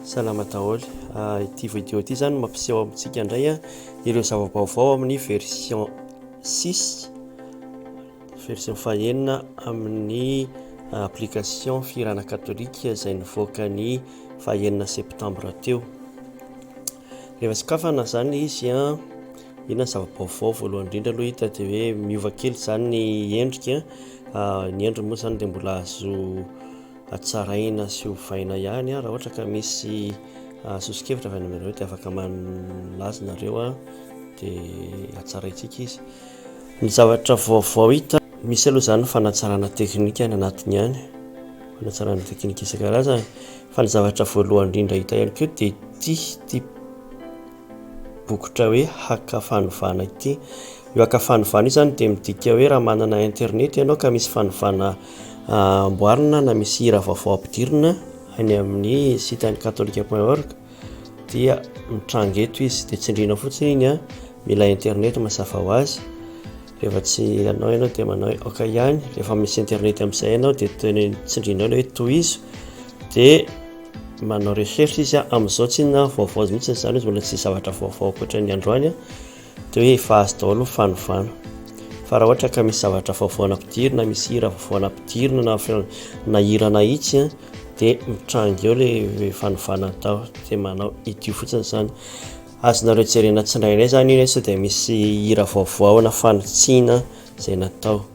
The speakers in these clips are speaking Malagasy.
Salama daholo. Ah, ity vidéo ity zany mampiseho amintsika indray ah, ireo zava-baovao amin'ny version 6 version fahenina amin'ny ah, application Firana Katolika izay nivoaka ny fahenina septambra teo. Rehefa sokafana zany izy an, ah, inona zava-baovao voalohany indrindra aloha hita dia hoe miova kely zany ny endrika, ah, ny endriny moa zany dia mbola azo hatsaraina sy hovaina ihany raha ohatra ka misy ah, soso-kevitra avy any aminareo dia afaka malaza nareo ah, dia hatsaraintsika izy ny zavatra vaovao hita misy aloha izany fanatsarana teknika any anatiny ihany fanatsarana teknika isan-karazany fa ny zavatra voalohany indrindra hita ihany koa dia tia tia bokotra hoe haka fanovana ity. Io haka fanovana io zany dia midika hoe raha manana internet ianao ka misy fanovana ah, amboarina na misy hira vaovao ampidirina any amin'ny site an'ny katolika point org dia mitranga eto izy dia tsindriana fotsiny iny an, ah. mila internet mazava ho azy. Rehefa tsy anao ianao dia manao hoe ok ihany, rehefa misy internet amin'izay ianao dia toy ny tsindrianao ilay hoe tohizo dia manao recherche izy a, amin'izao tsy inona vaovao mihitsy izany izy mbola tsy zavatra vaovao ankoatra ny androany a, dia hoe efa azo daholo ny fanovana. Fa raha ohatra ka misy zavatra vaovao nampidirina, misy hira vaovao nampidirina na feo na hira nahitsy a dia mitranga eo ilay fanovana atao dia manao idio fotsiny izany. Azonareo jerena tsindraindray zany io nefa sao dia misy hira vaovao na fanitsiana izay natao.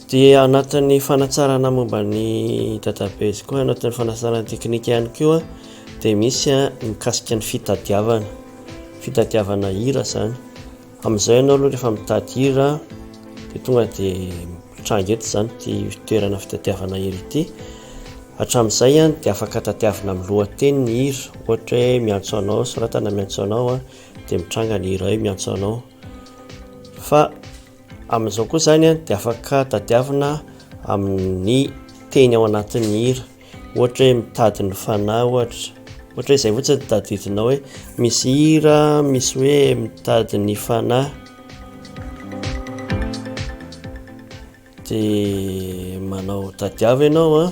Dia anatin'ny fanatsarana momba ny database koa, anatin'ny fanatsarana teknika ihany koa dia misy a mikasika ny fitadiavana, fitadiavana hira zany. Amin'izay ianao aloha rehefa mitady hira dia tonga dia mitranga eto zany ity toerana fitadiavana hira ity. Hatramin'izay dia afaka tadiavina amin'ny lohateny ny hira, ohatra hoe miantso anao, soratana miantso anao dia mitranga ny hira hoe miantso anao. Fa amin'izao koa izany dia afaka tadiavina amin'ny teny ao anatin'ny hira, ohatra hoe mitady ny fanahy ohatra, ohatra hoe izay fotsiny no tadidinao hoe misy hira misy hoe mitady ny fanahy. de manao tadiavo ianao a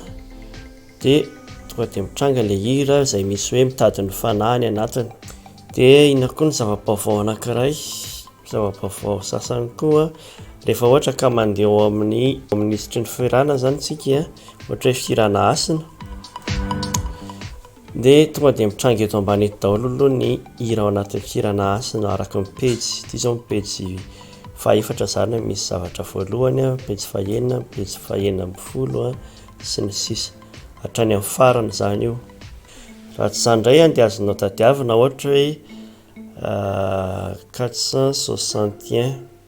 de tonga de mitranga le hira zay misy hoe mitady ny fanahy ny anatiny de inona koa ny zava-baovao anakiray zava-baovao sasany koa rehefa ohatra ka mandeha ao amin'ny minisitry ny firaana zany tsika ohatra hoe firana hasina Dia tonga dia mitranga eto ambany eto daholo aloha ny hira ao anatin'ny Firana Hasina araka ny pejy. Ity izao ny pejy fahefatra izany misy zavatra voalohany, pejy fahenina, pejy fahenina ambin'ny folo sy ny sisa. Hatrany amin'ny farany izany io. Raha tsy izany indray dia azonao tadiavina ohatra hoe 461.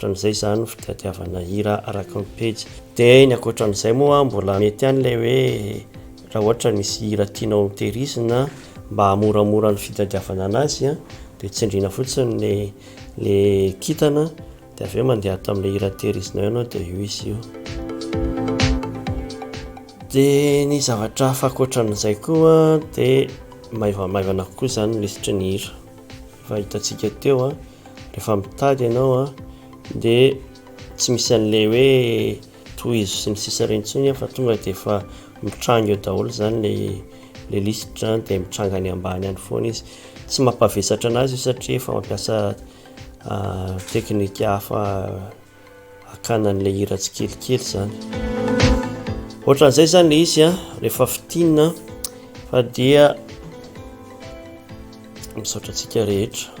Ohatran'izay izany ny fitadiavana hira araka ny pejy. Dia ny ankoatran'izay moa mbola mety ihany ilay hoe raha ohatra misy hira tianao hotehirizina mba hahamoramora ny fitadiavana an'azy dia tsindriana fotsiny ny le kintana dia avy eo mandeha ato amin'ilay hira tehirizinao ianao dia io izy io. Dia ny zavatra hafa ankoatran'izay koa dia maivamaivana kokoa izany ny lisitry ny hira. Efa hitantsika teo a, rehefa mitady ianao a, dia tsy misy an'ilay hoe tohizo sy ny sisa ireny intsony fa tonga dia efa mitranga eo daholo izany ilay ilay lisitra dia mitranga any ambany any foana izy. Tsy mampavesatra an'azy io satria efa mampiasa teknika hafa. hakana an'ilay hira tsikelikely zany ohatran'izay zany le izy a rehefa fitina fa dia misaotra antsika rehetra